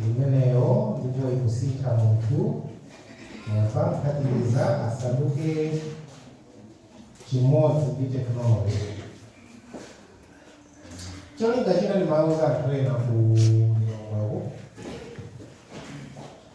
Ndimeneyo ndipo ikusintha munthu munthu amphatikize asanduke chimodzi ndi tekinoloji. Cholinga china ndimauza anthu ena ku mlongoku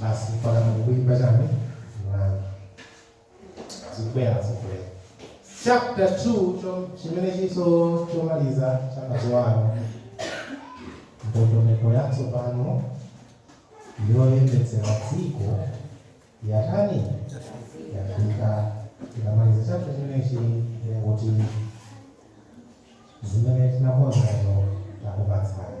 basi mpaka kuimba chani mlandu zikubwera zikubwera chapter 2 cho- chimene chili chomaliza chakatiuza kuti ndondomeko yatsopano yoyendetsera dziko yatani yafika ikamaliza chapter chimenechi kuti zimene tinakonzazo takupatsani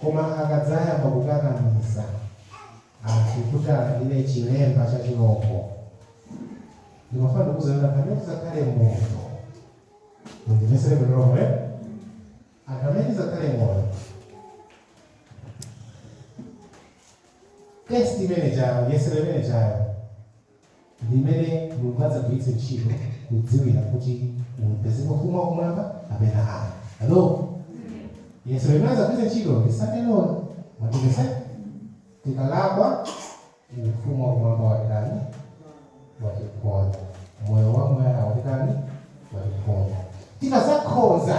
Koma akadzayamba kukakamiza anthu kuti alandire chilemba cha chirombo, ndimafuna ndikuuzeni kuti anthu amene tidzakhale moyo, mundimvetsere bwino lomwe, anthu amene tidzakhale moyo test imene tidzayo yesero limene tidzayo limene Mulungu adzagwiritse ntchito kudziwira kuti upeza Ufumu wa Kumwamba kapena ayi. Hello? Yesero limene adzagwiritse ntchito ndi Sunday Law. Mwachimvesa? Tikalakwa, Ufumu wa Kumwamba watitani? Watiphonya. Moyo wamuyaya watitani? Watiphonya. Tikadzakhoza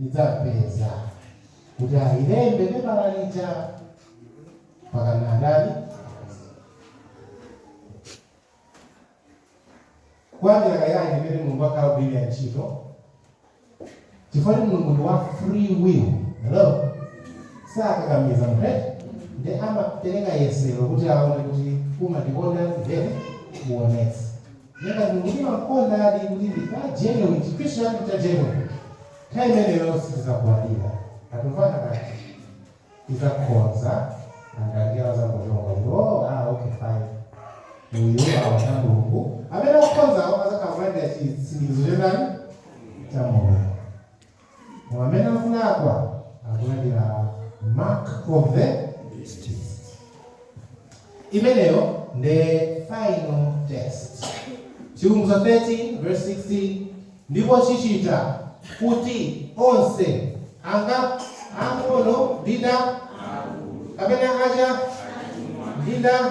idzapeza kuti ailembe pepala lija mwakhonza ndani kwanjira kayanji imene mulungu wakhala akugwirira ntchito chifukwa kuti mulungu ndi wa free will hello sakakamiza munthu nde amapereka yesero kuti aone kuti umandikonda ndiye uonetse Ngati Mulungu timamkondadi kuti ndife a genuine, Chikhristu chatu ncha genuine, nthawi imeneyo sitidzagwadira. Tatumvana bwanji? Tidzakhonza nanga ndiye awo adzangochonga kuti, oh, ah, okay, fine. Uyu wawa wa Mulungu, amene akukhonzawo adzakhala akulandira chisindikizo cha ndani? Cha Mulungu. Amene akulakwa akulandira mark of the beast. Imeneyo nde final test. Chivumbutso 13 verse 16 ndipo chichita kuti onse anga ang'ono ndi ndani kapena aja ndi ndani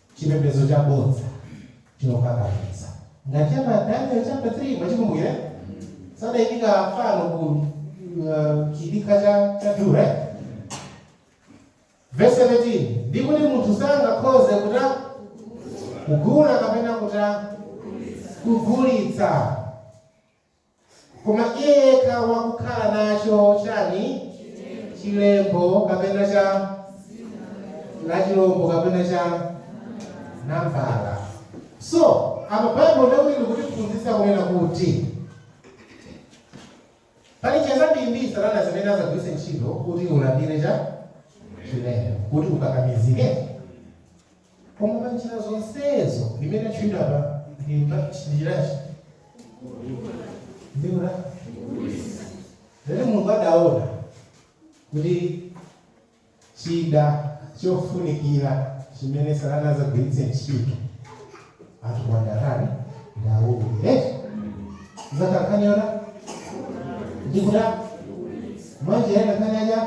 chipembedzo chabodza chokakamiza. Ngati cha pa Daniel chapter 3 mwachikumbukira? Adayimika fano ku uh, chidikha cha cha Dura. eh? Verse 17. Ndi kuti munthu sangakhoze kuta kugula kapena kuta kugulitsa. Koma iye yekha wakukhala nacho, chani? chilembo, kapena cha. la chirombo, kapena cha. nambala. So, apa Baibulo ndiye kuti likutiphunzitsa kunena kuti pali njira zambirimbiri satana zimene azagwiritse ntchito kuti ulandire cha. chilembo, kuti ukakamizike. Koma pa njira zonsezo zimene zatchulidwa apa ndi njirachi ndikuna lero Mulungu adaona kuti chida chofunikira chimene satana azagwiritse ntchito anthu kuwandarani ndawulire zakakhanyona ndikuta mwanjira ina khanya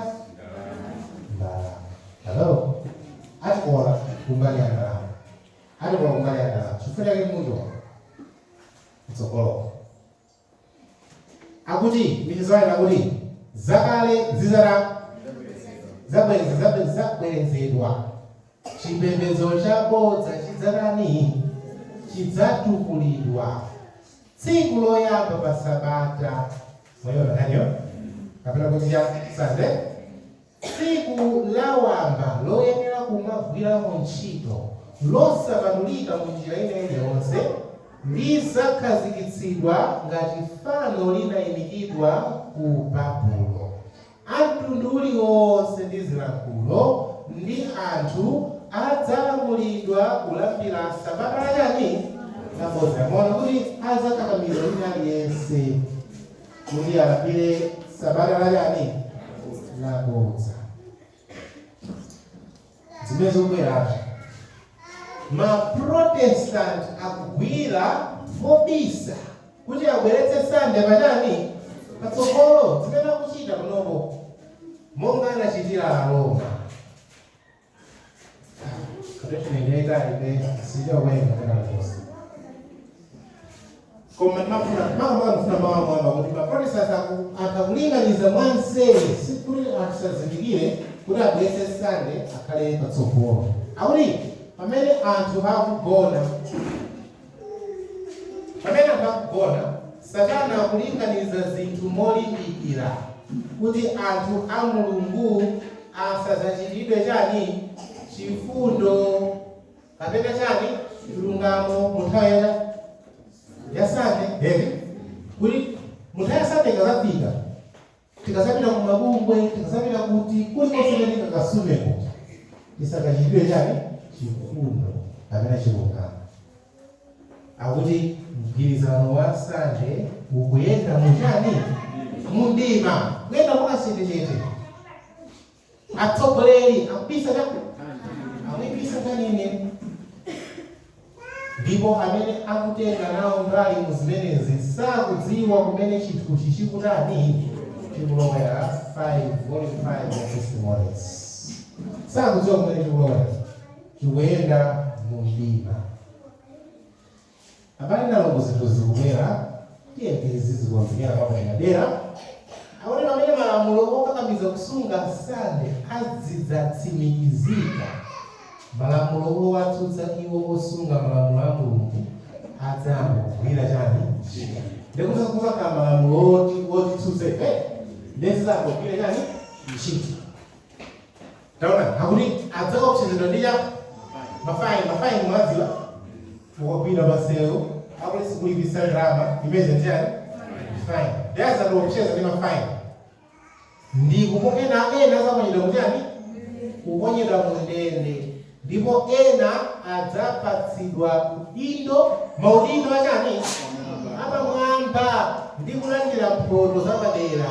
Hello? Atikola kumbali ya ndalama. Atikola kumbali ya ndalama. Chifukwa chake munthu kutsogoloko. Akuti michizwani akuti zakale zi zizabwerezedwa chipembedzo chabodza chidzatani chidzatukulidwa tsiku loyamba pa sabata moyo nakanyo kapena kuti cha sande Tsiku la wamba loyenera kumagwiramo ntchito losapatulika mu njira ina iliyonse lidzakhazikitsidwa ngati fano linaimikidwa ku Babulo. A mtundu uliwonse ndi zilankhulo ndi anthu adzalamulidwa kulambira sabata la chani? Labodza. Mwaona kuti adzakakamiza wina aliyense. kuti alambire sabata la chani labodza zimene zikubwerazo maprotestant akugwira mobisa kuti abweretse sande pachani patsogolo zimene akuchita panopo monga anachitira aroma koma mafuna mama mfuna mama mwamba kuti maprotestant akulinganiza mwanseri sikuli asazindikire kuti abweretse sande akhale patsogolo akuti pamene anthu akugona Pamene anthu akugona, Satana akulinganiza zinthu molimbikira kuti anthu a Mulungu asadzachitiridwe chani? Chifundo kapena chani? Chilungamo mu nthawi ya ya Sande, eti kuti mu nthawi ya Sande ikadzafika tikazapita ku mabwalo tikazapita kuti kulikonse kumene tingakasumeko tisakachitiridwe chani chifundo kapena chilungamo akuti mgwirizano wa Sunday ukuyenda muchani mumdima kuyenda mwakachetechete atsogoleri akubisa cha akubisa chani ndipo amene akutenga nawo mbali mu zimenezi sakudziwa kumene chinthuchi chikutani chikulowera 5 volume 5 ya Testimonies sakudziwa kumene chikulowera chikuyenda mu mdima Abale ndi alongo zinthu zikubwera tiyeni tizizikonzekera mwapaderadera akuti pamene malamulo okakamiza kusunga Sunday adzidzatsimikizika, malamulo owatsutsa iwo osunga malamulo a Mulungu adzayamba kugwira chani? Ntchito. Ndiye kuti kudzakhala malamulo oti otitsutsa ife ndiye azadzagwira chani? Ntchito. Taonani, akuti adzaopsezedwa ndi cha mafaini. Mafaini mumadziwa ukagwidwa pasewu akuzakulipisa ndalama imeneyo nchani faini ndiye azatiopseza ndi mafaini ndi kupo ena ena azaponyedwa kuchani kuponyedwa mundende ndipo ena adzapatsidwa udindo maudindo achani apamwamba ndi kulandira mphoto zapadera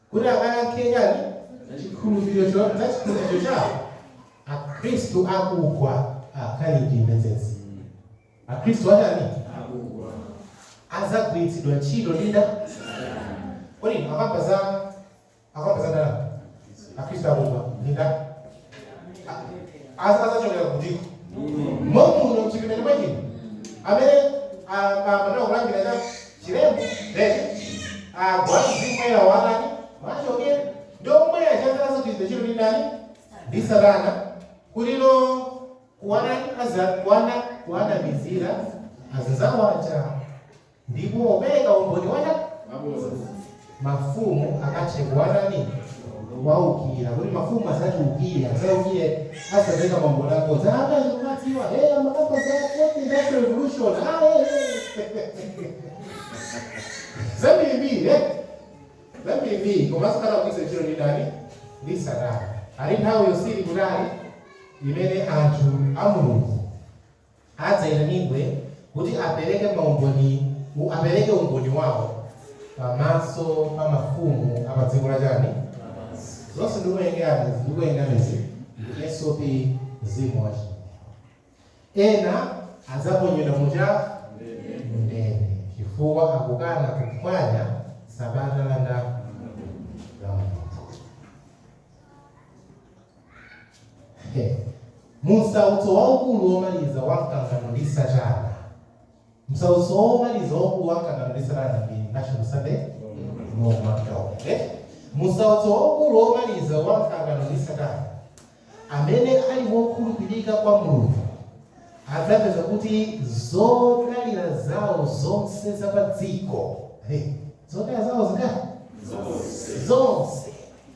kuti akayankhe chani? Za chikhulupiriro cha chikhulupiriro chawo. Akhristu akugwa akhala ndi emergency. Akhristu atani? Akugwa. Adzagwiritsidwa ntchito ndi ndani? Kodi akamba za akamba za ndalama? Akhristu akugwa ndi nda? azachokera kutiko momuno mchipinda chomwe chino amene amene akulandira cha chilembo then agwa mzimu woyera watani mwachokera ndi omwe adzagwiritsidwanso ntchito ndi ndani ndi satana kuti kuwana aza kuwana kuwanamizira azazawo cha Ndipo apereka umboni wa cha? Mafumu akathe kuwatani? Kuwaukira. Kuti mafumu azatiukire, azaukire, azapeka maumboni abodza. Ah, akazi kumadziwa, hey, amakamba za fourth industrial revolution. Ah, hey, hey. Zambirimbiri, eh? Zambirimbiri, koma zikakhala zikugwiritsidwa ntchito ndi ndani? Ndi Satana. Ali nthawi yosali kutali imene anthu a Mulungu adzaitanidwe kuti apereke maumboni, apereke umboni wawo pamaso pa mafumu a pa dziko la chani lapansi. Zonse ndikuwerengeranizi ndikuwerengerani izi ndi SOP mzimu wa chinenero. Ena adzaponyedwa mu cha mu ndende chifukwa chokana kuphwanya sabata la ndani la Mulungu. Mu nsautso waukulu womaliza wa mkangano ndi Satana, msautso womaliza waukulu wa mkangano ndi Satana ndi National Sunday Law mu nsautso waukulu womaliza wa mkangano ndi Satana, amene ali wokhulupirika kwa Mulungu adzapeza kuti zodalira zawo zonse za pa dziko zodalira zawo zingati zonse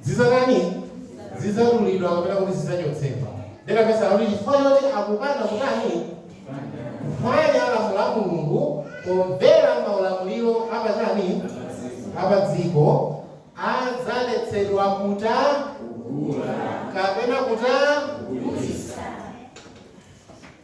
zidzatani? Zidzadulidwa kapena kuti zidzachotsedwa. Ndiyeno vesi ikuti chifukwa choti akukana kutani? Kuphwanya lamulo la Mulungu pomvera maulamuliro apatani? Apadziko adzaletsedwa kuta kapena kuta.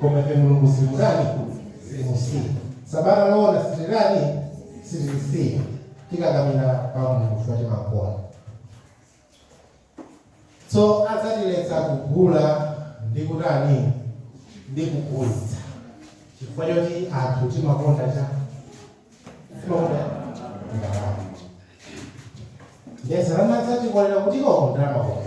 koma ife mulungu sitimutani sitimusiya sabata loona sitilitani sitilisiya tikakamira pa mulungu chifukwa timakonda so adzatiletsa kugula ndi kutani ndi kugulitsa chifukwa choti anthu timakonda cha timakonda ndalama ndiye Satana adzatikolera kuti tikonda ndalama kona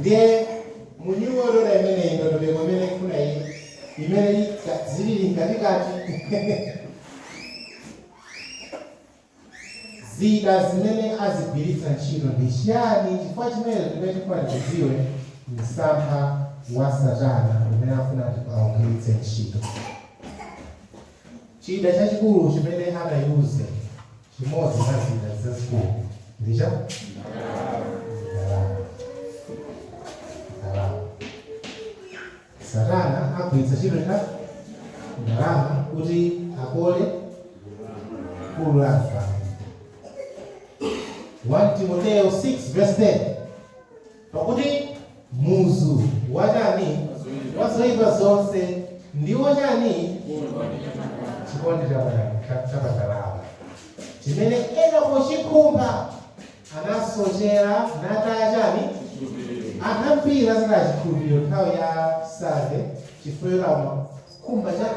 Ndiye mu New World Order imeneyi, ndondomeko imene ikufuna iyi, imene ika- zilili mkatikati zida zimene azigwiritsa ntchito ndi chiyani? Chifukwa chimene chimene tifuna tichidziwe msampha wa Satana umene afuna kuti augwiritse ntchito. Chida chachikulu chimene atayuze, chimodzi mwa zida zazikulu, ndi cha? Ndalama. Ndalama. Satana agwiritsa ntchito cha? Ndalama kuti akole gulu la anthu. 1 Timoteo 6 verse 10. Pakuti muzu wa chani? Wa zoipa zonse ndiwo chani? Chikondi cha pa ndalama chimene ena pochikhumba anasochera nataya chani? Anthu ambiri adzataya chikhulupiriro nthawi ya Sunday chifukwa choti amakhumba cha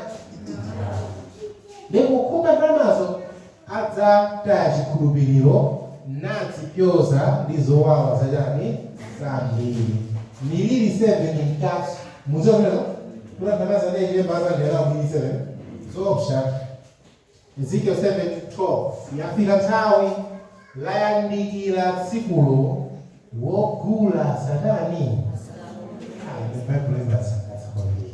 ndipo kukhumba ndalamazo anataya chikhulupiriro, nadzipyoza ndi zowawa zotani? Zambiri. Miliri 7 mkat. Mukudziwa zimenezo? Kuti anthu amene adzatenga chilemba adzalandira nawo Miliri 7? Zoopsa. Ezekiel 7:12. Yafika nthawi, layandikira tsikulo, wogula asatani? Ayi, Baibulo limasangalatsa kwambiri.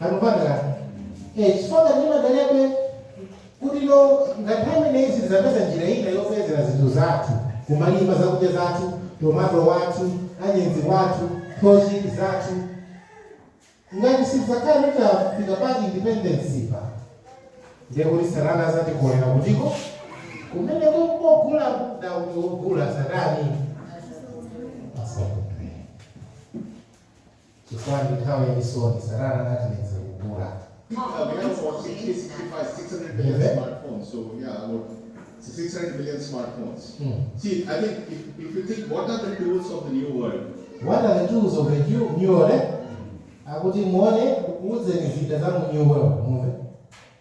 Akupanga eh, chifukwa ngati ndimadalebe kuti ngati pamene sitizapeza njira ina yopezera zinthu zathu kumalima zakudya zathu tomato wathu anyezi wathu kabichi wathu ngati sitizakhala titafika pa independence pa ndiye kuti satana azatikolera kutiko kumene kogula kuda kuti wogula satani asakuphe Chifukwa ndi nthawi ya chisoni, Satana anati ndidziwe kugula. What are the tools of the new world order? Akuti muone ndikuuzeni zida za mu new world, mumve.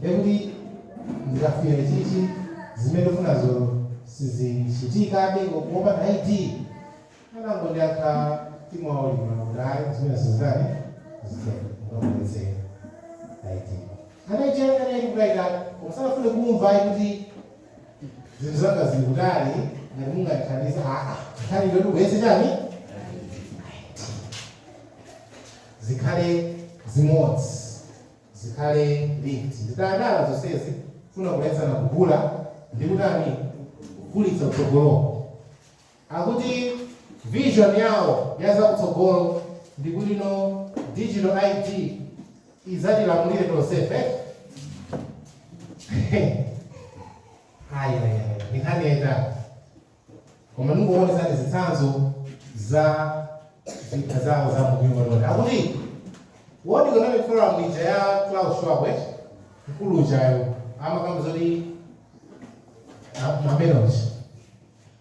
ndekuti ndikafunire chiyani zimene ukufunazo sizichitikabe popanda ID anangondiyankha mwaulemu kuti ayi zimenezo sizitani sizitero ngakupezeka ID anaichayangana ili kukaita usanafune kumva ayi kuti zinthu zanga zili kutali ngati mungandithandize aa nkhani ndoti kuyese chani zikhale zimodzi zikhale linked zikhale zonsezi kufuna kuletsana kugula ndi kutani kugulitsa kutsogoloko akuti vision yawo ya zakutsogolo ndi kuti digital id izatilamulire tonsefe ayayaya ndi nkhani yaitali koma ndingoonetsani zitsanzo za zida zawo za mupingo loni akuti world economic forum ija ya Klaus Schwab eh? mkulu ujayo amakamba zoti mamenos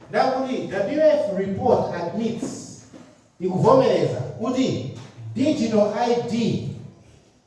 ndiye akuti wf report admits ikuvomereza kuti digital id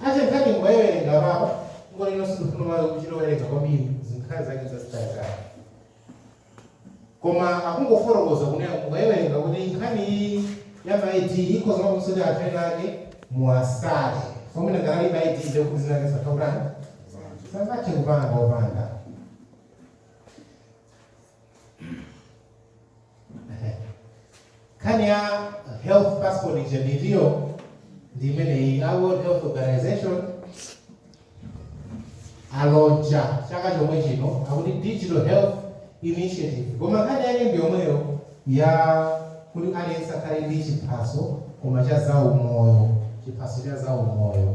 Ndiye nkhani mukayiwerenga apa onani inenso sindifuna kuchita kuwerenga kwambiri zinkhani zake zazitalizitali koma akungofotokoza kunena mukayiwerenga kuti nkhani iyi ya ma ID ikhoza kupangitsa kuti anthu ena azimva ngati muwasale amene alibe ma ID ndekuti zinake satha kutani sangathe kupanga opanda nkhani ya health passport ija nayo ndi imeneyi a world health organization a launcher chaka chomwe chino akuti digital health initiative koma nkhani yake ndi yomweyo ya kuti aliyense akhale ndi chiphaso koma cha zaumoyo chiphaso cha zaumoyo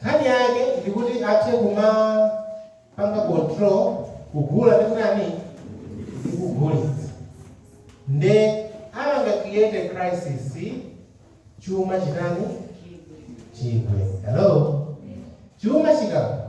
Nkhani yake ndikuti athe kumapanga control kugula ndi kutani ndi kugulitsa nde apanga create a crisis chuma chitani chigwe hello chuma chikagwa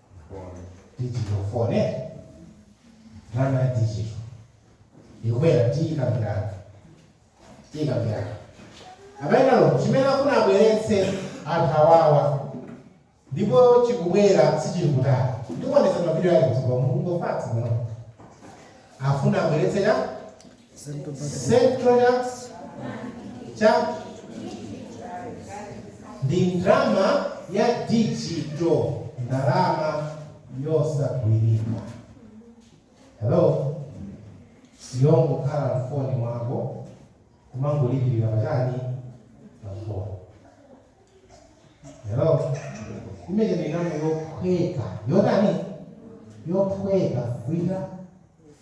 digital phone eh ndalama ya digital ikubwera tiyikambirana tiyikambirana apanatu chimene akuna abweretse anthu awawa ndipo chikubwera sichili kutali ndikuonesa mavidiyo ake kutsogolo mumuvomere izi ndi zomwe afuna abweretse ya Central Bank ndi ndalama ya digital, ndalama yosagwirika. Hello, yongokhala mfoni mwako kumangolipirira pachiyani mafoni. Hello, imene idzakhala yophweka yotani yophweka kuita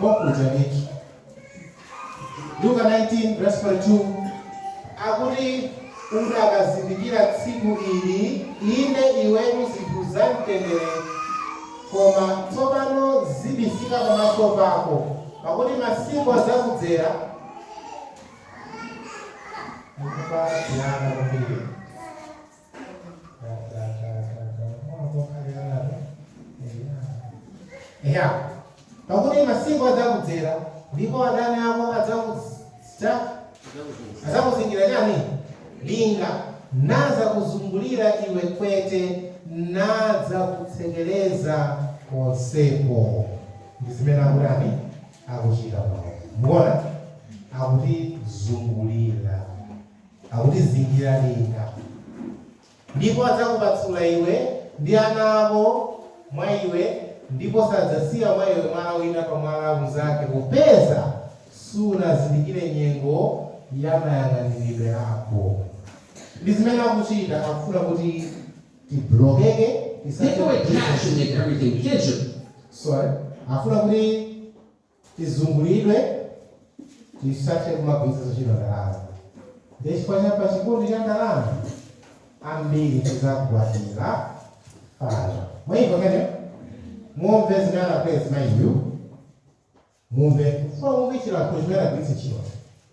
kwakucha ndithu. Luka 19 verse 42 akuti udakazindikira tsiku ili inde iwetu zinthu za mtendere koma tsopano zibisika pamaso pako pakuti masiku adzakudzera mukupatirana kwambiri ya pakuti masiku adzakudzera ndipo adani ako adzakusta adzakuzingira chiyani linga nadzakuzungulira iwe kwete nadzakutsekereza konseko ndi zimene akutani akuchita pano mukuona akutizungulira Akutizingira linga, ndipo adzakupasula iwe ndi ana ako mwa iwe, ndipo sadzasiya mwa iwe mwala wina pa mwala unzake, popeza sunazindikire nyengo ya mayang'aniridwe ako. Ndi zimene akuchita, akufuna kuti tiblokeke, Take away cash and make everything digital. Sorry, akufuna kuti. tizungulidwe tisathe kumagwiritsanso ntchito ndalama ndiye chifukwa cha pachikondi cha ndalama ambiri tizagwadira fano mwaimva kaye mumve zimene anapeza mayiyu mumve chifukwa mumve chilankhulo chimene anagwiritsa ntchito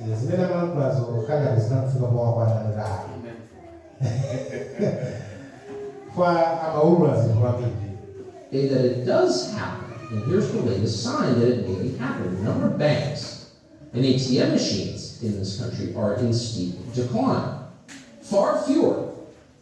Eh, zimene amalankhulazo kangati zinamufika powakwana kuti ayi koma amaulula zinthu kwambiri Say that it does happen, and here's the latest sign that it may happen. The number of banks and ATM machines in this country are in steep decline. Far fewer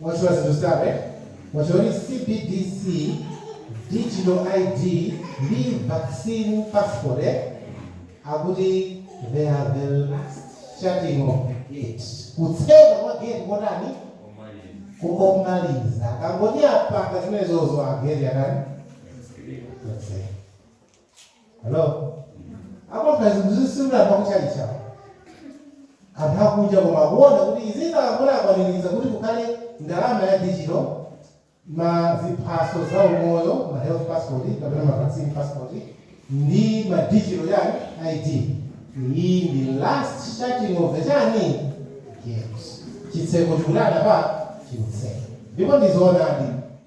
Mwadziwa zinthu zitatu eti? Mwadziwa kuti CBDC, Digital ID ndi Vaccine Passport eti? Akuti they are the last shutting of the gate. Kutseka kwa gate kotani? Komaliza. Akangoti apanga zimenezozo a gate yatani? Yatseka. Hello? Apo kazi mzisura kwa kuchalicha. Anthu akunja koma akuona kuti izi zikakhala akwaniritsa kuti kukhale ndalama ya digital ma ziphaso za umoyo ma health passport kapena ma vaccine passport ndi ma digital ID iyi ndi last shutting of the chani gate chitseko chikutani apa chitseko ndipo ndizoonadi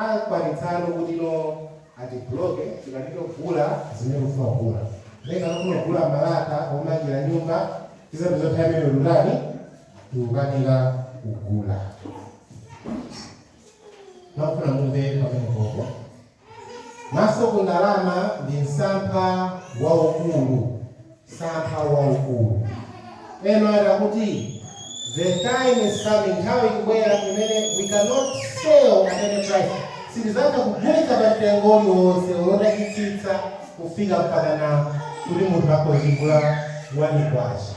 Akwanitsano kuti ino atibloke tikanike kugula zimene ukufuna kugula ndiye ngati ukufuna kugula malata omangira nyumba tizapeza nthawi imeneyo tikutani tikukanika kugula ndikufuna mumve pamene popo m'maso ku ndalama ndi msampha waukulu Msampha waukulu. Ena ati akuti the time is coming nthawi ikubwera imene we cannot sell at any price sitizatha kugulitsa pa mtengo uliwonse olo utachitsitsa kufika mpakana kuti munthu akhoza kugula one kwacha.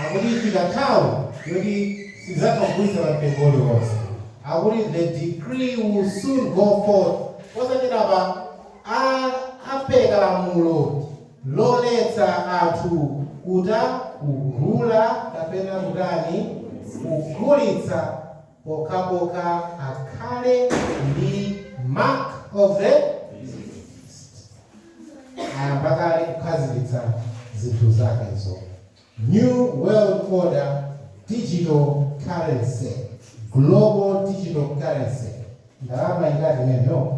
Akuti ifika nthawi yoti sitizatha kugulitsa pa mtengo uliwonse. Akuti the decree will soon go forth posachedwapa apereka lamulo. loletsa anthu kutani kugula kapena kutani kugulitsa pokhapokha akhale ndi mark of the beast. Ayamba kale kukhazikitsa zinthu zakezo. New World Order Digital Currency, Global Digital Currency, ndalama ingati imeneyo?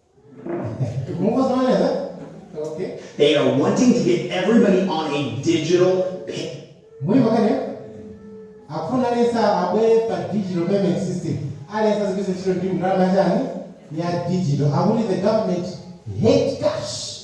They are wanting to get everybody on a digital pay. akufuna aliyense abwere pa digital payment system aliyense azigwiritsa ntchito ndalama yachani ya digital akuti the government hate cash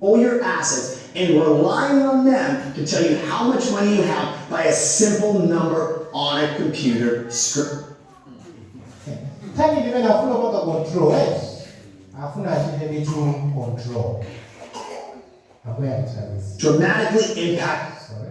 all your assets and relying on them to tell you how much money you have by a simple number on a computer screen. Kani ndimene afuna kupanga control eh? Afuna achite ndithu control. Ambuye atithandize. Dramatically impact. Sorry.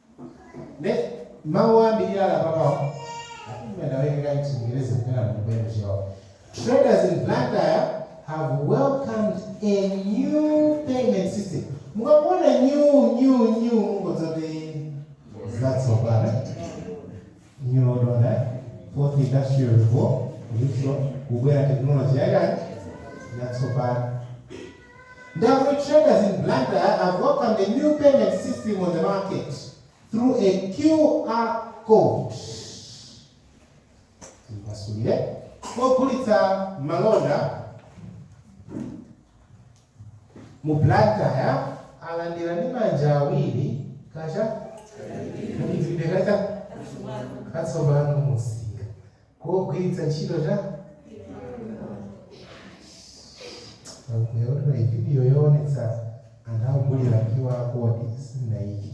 Mawu ambiri ali apapawo mwina ndiwerenga m'Chingerezi kapena m'Chibemba chawo. Traders in Blantyre have welcomed a new payment system. Mukangoona new new new mungodziwa kuti zatsopano. Ndiye ndi ya Fourth Industrial Revo, lution, kubwera technology ya chani yatsopano. Ndiye traders in Blantyre have welcomed a new payment system on the market through a QR code. Tipasulire ogulitsa malonda mu Blantyre alandira ndi manja awiri ka cha mchitidwe ka cha katsopano mumsika kogwiritsa ntchito cha QR vidiyo yoonetsa anthu akugulira QR code sinaiki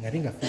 ngati ngafika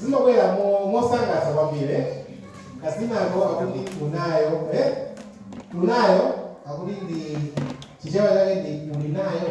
zimabwera mosangalatsa kwambiri kadzinako akuti unayo eh? unayo akuti ndi chichewa chake ndi kuli nayo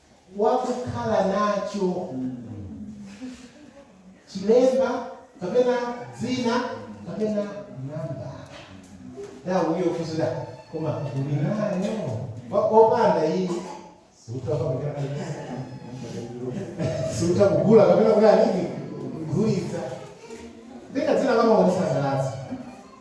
wakukhala nacho chilembo kapena dzina kapena namba nthawi yofunsira koma uli nayo Wa- opanda iyi sutha kugula kapena kuti nini kugulitsa ndi kadzina kamawasangalatsa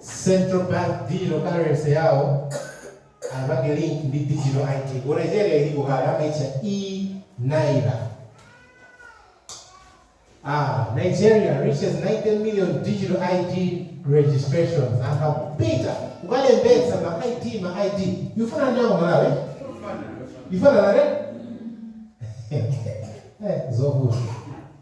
Central Bank Digital Currency yawo apange link ndi Digital ID. Ku Nigeria ilipo kale amaitcha e-Naira. Ah, Nigeria reaches 90 million digital ID registrations. Anthu akupita kukalembetsa ma ID ma ID. Yufuna ndi ako Malawi? Yufuna nare? Eh, zovuta.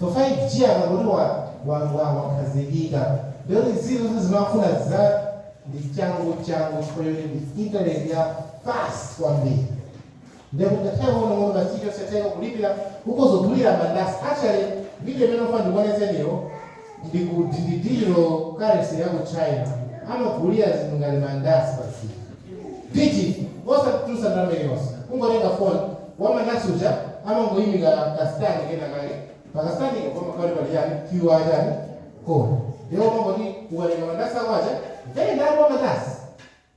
So 5G akangoti wa, wa, wa, wakhazikika ndiye kuti izi zonse zimafuna za ndi changu changu chifukwa choti ndi intaneti ya fast kwambiri ndekuti ngakhale muno muno basi tonse tikulipira kukuzogulira mandasi actually video imene ndifuna ndikuonetseniyo ndi ku digital currency ya ku China amagulitsa zinthu ngati mandasi basi digit osati kutulutsa ndalama iliyonse kungotenga phone wamandasi uja amangoika ka stand kena kake pa ka stand ko kamakhala pali chani QR chani code ndiye umangoti ukatenga mandasi ako aja very ndalama mandasi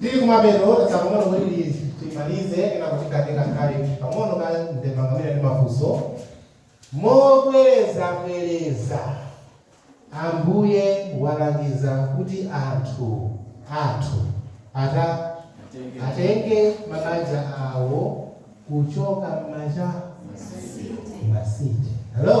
Tili kumapeto, tatsala pang'ono kuti timalize kenako tikambe ka challenge pang'ono ka ndemanga mwina ndi mafunso. Mobwerezabwereza Ambuye walangiza kuti anthu athu atenge mabanja awo kuchoka mma cha? M'ma city. Hello?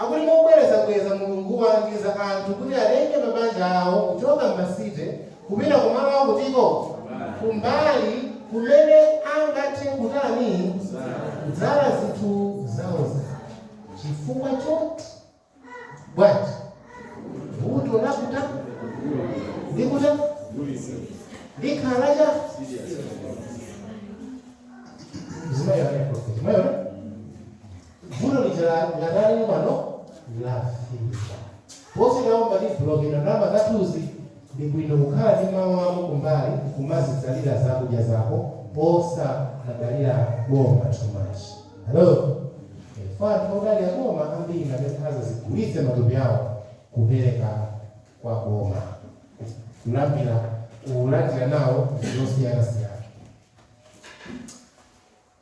Akuti mobwerezabwereza Mulungu walangiza anthu kuti atenge mabanja awo kuchoka m'ma city kupita kumalo akuti? Ko kumbali kumene angathe kutani? kudzala zinthu zawozawo. Chifukwa choti? bwanji? vuto la kugula ndi kugulitsa likhala la chani? Mzimayi anayankha kuti, Mwaona? Vuto lija la ngati ali pano lafika. Posiyirapo matibuloketa ndalama zathuzi, ndi bwino kukhala ndi malo ako kumbali nkumazidzalira zakudya zako osamadalira boma too much. Hello? Eh, kwa anthu odalira boma ambiri akazazigulitsa matupi awo kupereka kwa boma kulambira kulandira nawo zosiyanasiyana.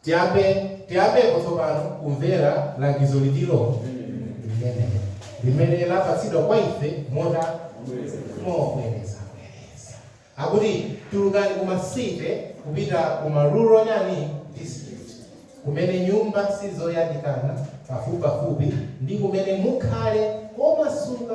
Tiyambe, tiyambepo tsopano kumvera langizoli lili lo limene limene lapatsidwa kwa ife motani mobwereza bwereza. Akuti tulukani ku ma city kupita ku ma rural chani district kumene nyumba sizoyandikana pafupipafupi ndi kumene mukhale omasuka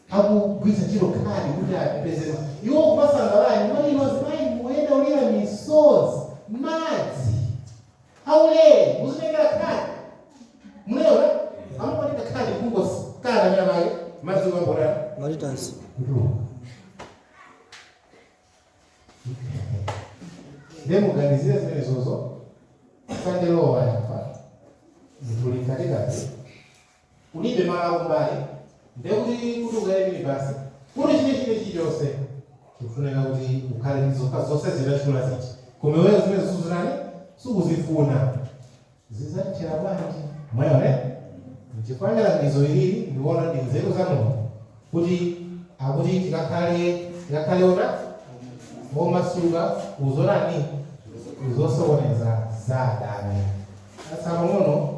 akugwiritsa ntchito khadi kuti apeze ma. Iwo kumasangalala nyumba iliyonse, ayi tikuyendera ulere, madzi aulere muzitengera khadi. Munayiona amakupatika khadi kungos kana amene amake madzi omwe ambotani Maritas. kutuwa. Ndiye muganizire zimene zozo kandilowa yapa zinthu likatikati kulibe malo akumbali ndiye kuti kuti ukwere minibasi kuti china china chilichonse chikufunika kuti ukhale ndi zokha zonse zinachula ziti koma iweyo zimene zisuzirani sikuzifuna zizatithera bwanji mwaona nchifukwa ndizo ilili ndikuona ndi nzeru za mulungu kuti akuti tikakhale tikakhale ona momasuka kuzonani kuzosokoneza za adani atsa pang'ono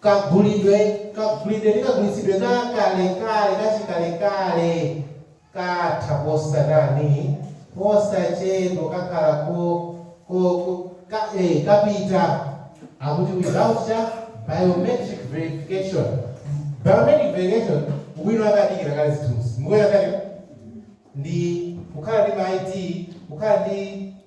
kagulidwe, kagulidwe ndi kagulitsidwe ka kalekale, kachikalekale katha posachedwa posachedwa kakhala ko ko ko ka eh, kapita akuti ulibe ntchito biometric verification biometric verification ubwino wake ndi kale kale ndi kukhala ndi ma ID kukhala ndi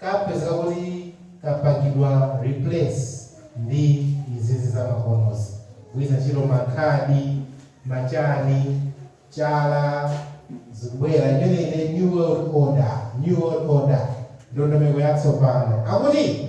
kapezeka kuti kapangidwa replace ndi izi zamakonozi kugwiritsa ntchito makhadi, ma chani, chala zikubwera imeneyi ndi new world order, new world order ndondomeko yatsopano akuti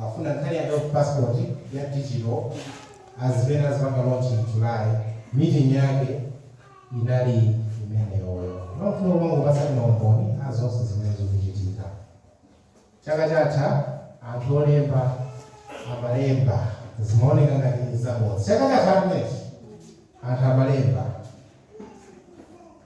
Akufuna nkhani ya health passport ya digital zimene azipanga launch in July, meeting yake inali imeneyoyo. Timangofuna kumangokupatsani ma umboni a zonse zimene zikuchitika. Chaka chatha anthu olemba amalemba zimaoneka ngati zabodza. Chaka chatha chimenechi anthu amalemba.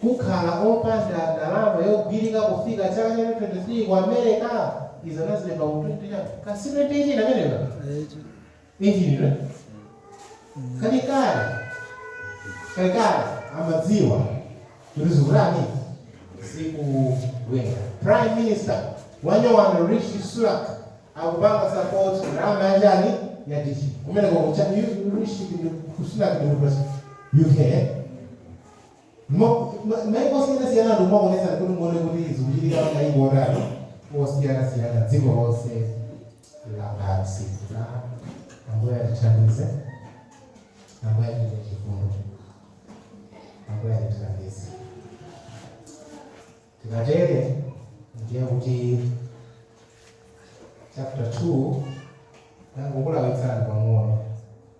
kukhala opanda ndalama yogwirika kufika chaka cha 2023 ku America izi anazilemba mu 20 chani ka si 2018 ameneyo injinira kalekale kalekale amadziwa kuti zikutani zikubwera prime minister wanyowani Rishi Sunak akupanga support ndalama ya chani ya digital kumeneko kucha rishi ndi- Sunak ndi kutosa uk eh? Mo- ma- maiko osiyanasiyana anthu nkumaonetsani kuti muone kuti zikuchitika pa maiko otani osiyanasiyana dziko lonse lapansi na ambuye atithandize ambuye atitire chifundo ambuye atithandize tikatere ndiye kuti chapter 2 nangokulawitsani pang'ono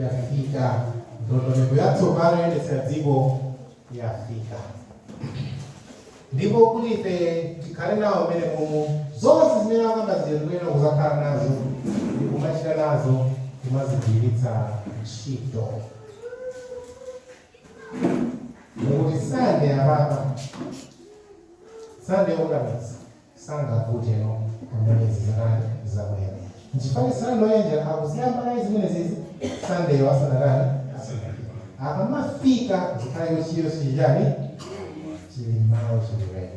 yafika. Ndondomeko yatsopano yoyendetsera dziko yafika, ndipo kuti ife tikhale nawo mmene momo zonse zimene akamba zija tikuyenera kuzakhala nazo ndikumachita nazo kumazigwiritsa ntchito. Muli sande apapa sande yokakamiza sangavute ndiye pamene izi zatani zabwera nchifukwa sunday law ija akuziyamba kaye zimenezizi sunday law asanatani asanafike akamafika zikhale kuti chilichonse chili chani chili m'malo chili ready.